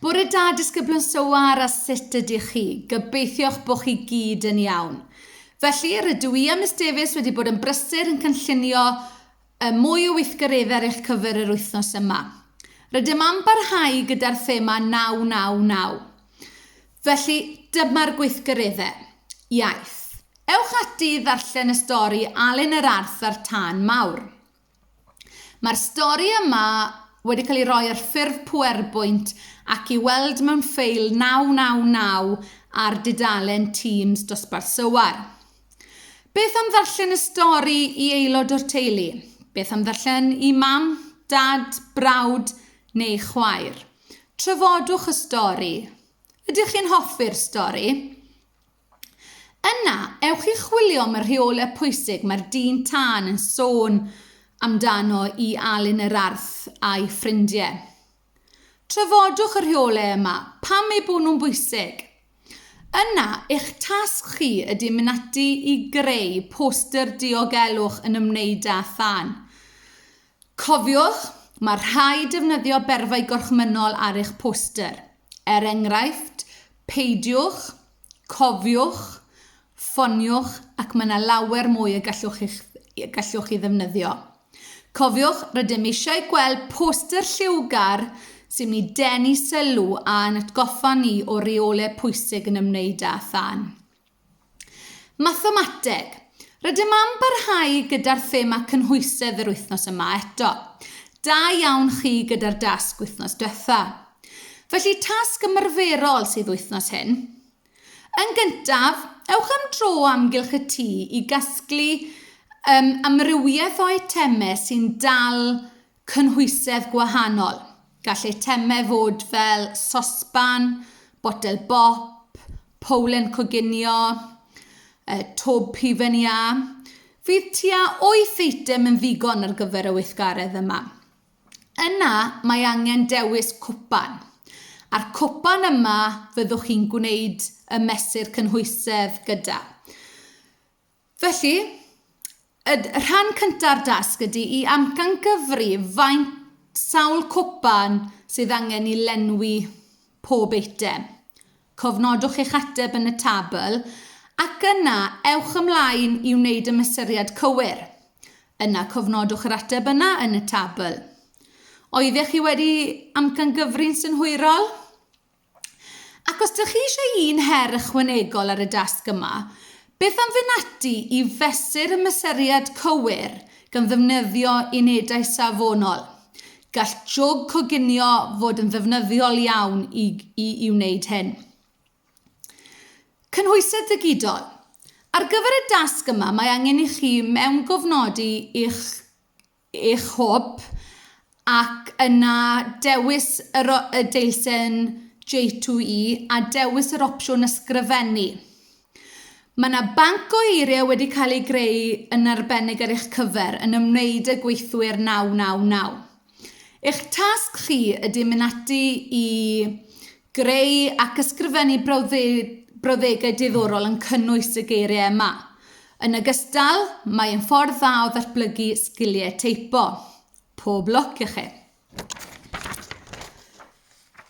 Bore da, disgyblion Sowar, a sut ydych chi? Gobeithio'ch bod chi gyd yn iawn. Felly, rydw i a Miss Davies wedi bod yn brysur yn cynllunio y mwy o weithgareddau ar eich cyfer yr wythnos yma. Rydym am barhau gyda'r thema 999. Felly, dyma'r gweithgareddau. Iaith. Ewch ati i ddarllen y stori Alun yr Arth a'r Tân Mawr. Mae'r stori yma wedi cael ei roi ar ffurf PowerPoint ac i weld mewn ffeil 999 ar dudalen Teams dosbarth Sywar. Beth am ddarllen y stori i aelod o'r teulu? Beth am ddarllen i mam, dad, brawd neu chwaer? Trafodwch y stori. Ydych chi'n hoffi'r stori? Yna, ewch i chwilio am y rheolau pwysig mae'r dyn tân yn sôn amdano i Alun yr Arth a'i ffrindiau. Trafodwch y rheolau yma, pam eu bod nhw'n bwysig. Yna, eich tasg chi ydy mynd ati i greu poster diogelwch yn ymwneud â thân. Cofiwch, mae rhaid defnyddio berfau gorchmynnol ar eich poster, er enghraifft, peidiwch, cofiwch, ffoniwch ac mae yna lawer mwy y gallwch chi'ch gallwch chi ddefnyddio. Cofiwch, rydym eisiau gweld poster lliwgar sy'n mynd i denu sylw a'n atgoffa ni o reolau pwysig yn ymwneud â thân. Mathemateg. Rydym am barhau gyda'r thema cynhwysedd yr wythnos yma eto. Da iawn chi gyda'r dasg wythnos diwetha. Felly tasg ymarferol sydd wythnos hyn. Yn gyntaf, ewch am dro o amgylch y tŷ i gasglu um, amrywiaeth o eitemau sy'n dal cynhwysedd gwahanol. Gall eitemau fod fel sosban, botel bop, powlen coginio, twb hufen iâ. Fydd tua wyth eitem yn ddigon ar gyfer y weithgaredd yma. Yna mae angen dewis cwpan. A'r cwpan yma fyddwch chi'n gwneud y mesur cynhwysedd gyda. Felly, y rhan cynta'r dasg ydy i amcangyfri faint sawl cwpan sydd angen i lenwi pob eitem. Cofnodwch eich ateb yn y tabl ac yna ewch ymlaen i wneud y mesuriad cywir. Yna cofnodwch yr ateb yna yn y tabl. Oeddech chi wedi amcangyfri'n synhwyrol? Ac os dych chi eisiau un her ychwanegol ar y dasg yma, beth am fynd ati i fesur y mesuriad cywir gan ddefnyddio unedau safonol? Gall jwg coginio fod yn ddefnyddiol iawn i, i, i wneud hyn. Cynhwysedd digidol. Ar gyfer y dasg yma mae angen i chi mewngofnodi eich eich hwb, ac yna dewis yr y deilsen J2E a dewis yr opsiwn Ysgrifennu. Mae yna banc o eiriau wedi cael ei greu yn arbennig ar eich cyfer yn ymwneud â gweithwyr 999. Eich tasg chi ydy mynd ati i Greu ac ysgrifennu brawddegau diddorol yn cynnwys y geiriau yma. Yn ogystal, mae yn ffordd dda o ddatblygu sgiliau teipo. Pob lwc i chi!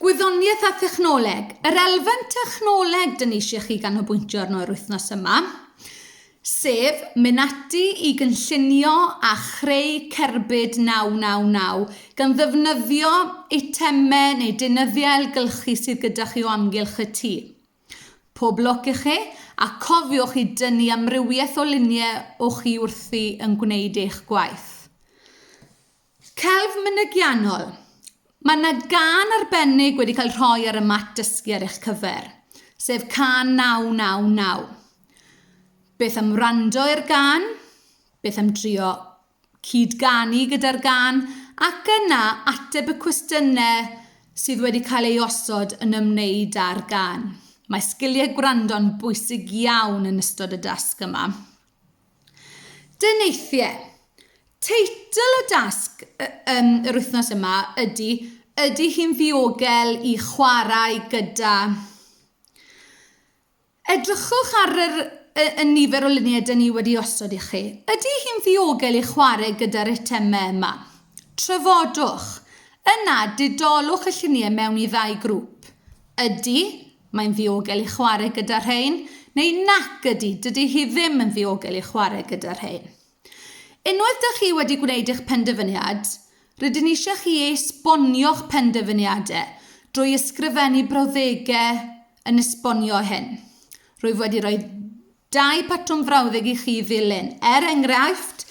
Gwyddoniaeth a thechnoleg. Yr elfen technoleg dyn ni eisiau chi ganolbwyntio arno yr wythnos yma. sef mynd ati i gynllunio a chreu cerbyd 999 gan ddefnyddio eitemau neu deunyddiau ailgylchu sydd gyda chi o amgylch y tŷ. Pob lwc i chi, a cofiwch i dynnu amrywiaeth o luniau o chi wrthi yn gwneud eich gwaith. Celf mynygiannol, Mae yna gân arbennig wedi cael rhoi ar y mat dysgu ar eich cyfer, sef cân 999. Beth am wrando i'r gân? Beth am drio cyd-ganu gyda'r gân? Ac yna ateb y cwestiynau sydd wedi cael ei osod yn ymwneud â'r gân. Mae sgiliau gwrando'n bwysig iawn yn ystod y dasg yma. Deneithiau. Teitl y dasg yym yr wythnos yma ydy Ydy hi'n ddiogel i chwarae gyda... Edrychwch ar yr y y nifer o luniau 'da ni wedi osod i chi. Ydy hi'n ddiogel i chwarae gyda'r eitemau yma? Trafodwch. Yna, didolwch y lluniau mewn i ddau grŵp. Ydy, Mae'n ddiogel i chwarae gyda rhein, neu nac ydy, dydy hi ddim yn ddiogel i chwarae gyda rhein. Unwaith dych chi wedi gwneud eich penderfyniad, rydyn ni eisiau chi esbonio'ch penderfyniadau drwy ysgrifennu brawddegau yn esbonio hyn. Rwyf wedi rhoi Dau batrwm frawddeg i chi ddilyn, er enghraifft,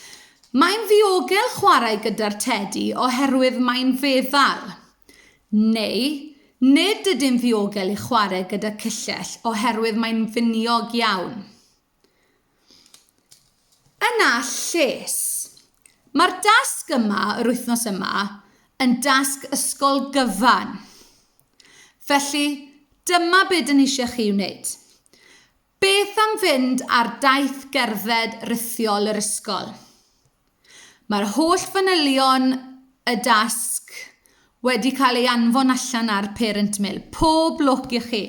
Mae'n ddiogel chwarae gyda'r tedi oherwydd mae'n feddal. Neu, Nid ydy'n ddiogel i chwarae gyda cyllell oherwydd mae'n finiog iawn. Yna lles. Mae'r dasg yma yr wythnos yma yn dasg ysgol gyfan. Felly, dyma be dyn ni eisiau chi wneud. Beth am fynd ar daith gerdded rithiol yr ysgol? Mae'r holl fanylion y dasg wedi cael ei anfon allan ar Parent Mill. Pob lwc i chi!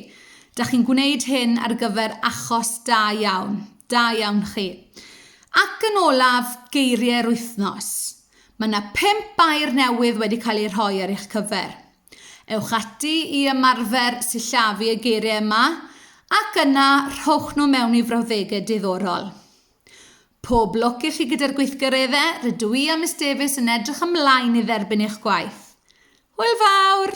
Dach chi'n gwneud hyn ar gyfer achos da iawn. Da iawn chi. Ac yn olaf, geiriau'r wythnos. Mae yna pimp air newydd wedi cael eu rhoi ar eich cyfer. Ewch ati i ymarfer sillafu y geiriau yma ac yna rhowch nhw mewn i frawddegau diddorol. Pob lwc i chi gyda'r gweithgareddau, rydw i a Miss Davies yn edrych ymlaen i dderbyn eich gwaith. Hwyl fawr!